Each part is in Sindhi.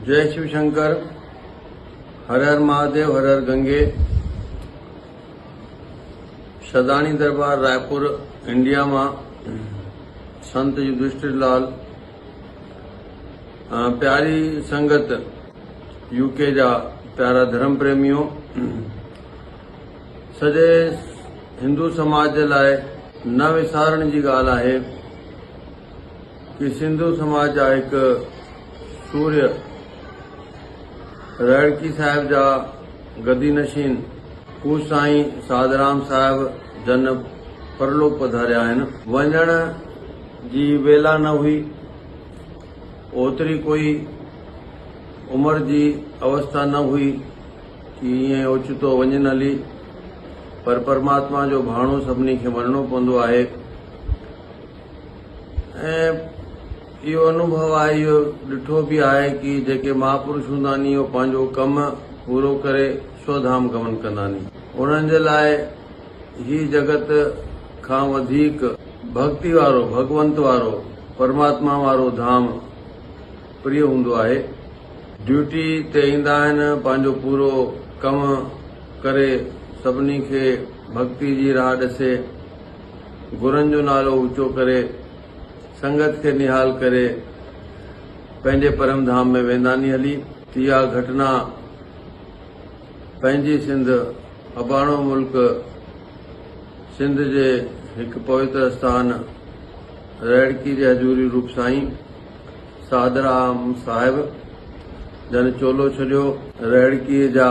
جئي شو شنڪر هر هر مهاديو هر هر گنگي شھداڻي دربار رائپور انڊيا مان سنت يدشٽر لال پياري سنگت يو ڪي جا پيارا ڌرم پريميو سڄي هندو سماج جي لاء نه وسارڻ جي ڳالهه آهي ڪي سنڌو سماج جا هڪ سورهيه رهڙڪي صاحب جا گدي نشين پوء سائين ساڌرام صاحب جن پرلوڪ پڌاريا آهن. وڃڻ جي ويلا نه هئي. اوتري ڪوئي عمر جي اوستا نه هئي ڪي ائين اوچتو وڃن هلي پر پرماتما جو ڀاڻو سڀني کي مڃڻو پوندو آهي. ۽ اهو انوڀو آء اهو ڏٺو به آهي ڪي جيڪي مهاپرش هوندا ني اهو پنهنجو ڪم پورو ڪري سو ڌام گمن ڪندا ني انهن جي لاء هي جڳت کان وڌيڪ ڀڳتي وارو ڀڳونت وارو پرماتما وارو ڌام پريو هوندو آهي ڊيوٽي تي ايندا آهن پنهنجو پورو ڪم ڪري سڀني کي ڀڳتي جي راهه ڏسي. گرن جو نالو اوچو ڪري، سنگت کي نهال ڪري، پنهنجي پرم ڌام ۾ وينداني هلي. اها گهٽنا پنهنجي سنڌ اباڻو ملڪ سنڌ جي هڪ پويتر اسٿان رهڙڪي جي حضوري روپ سائين سعدرام صاحب جن چولو ڇڏيو. رهڙڪي جا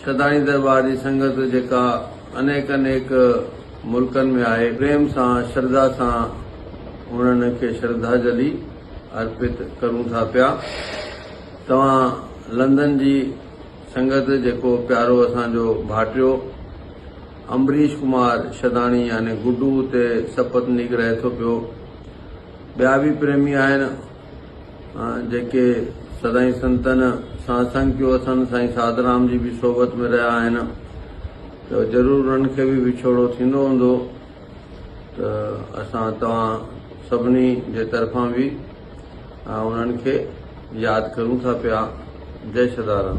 شھداڻي درٻار جي سنگت جيڪا انيڪ انيڪ ملڪن ۾ آھي پريم سان شرڌا سان انھن کي شرڌاجلي ارپت ڪرون ٿا پيا توھان لندن جي سنگت جيڪو پيارو اسان جو ڀاٽيو امبريش ڪمار شھداڻي يعني گڊو اتي سپت نيڪ رھي ٿو پيو ٻيا به پريمي آھن. جيڪي سدائين سنتن سان سنگ ڪيو اٿن، سائين ساڌرام جي به صحبت ۾ رهيا آهن ته ضرور انهن کي به وڇوڙو ٿيندو هوندو ته اسان توهان سڀني جي طرفان به انهن کي ياد ڪريون ٿا پيا. جئي سدارام.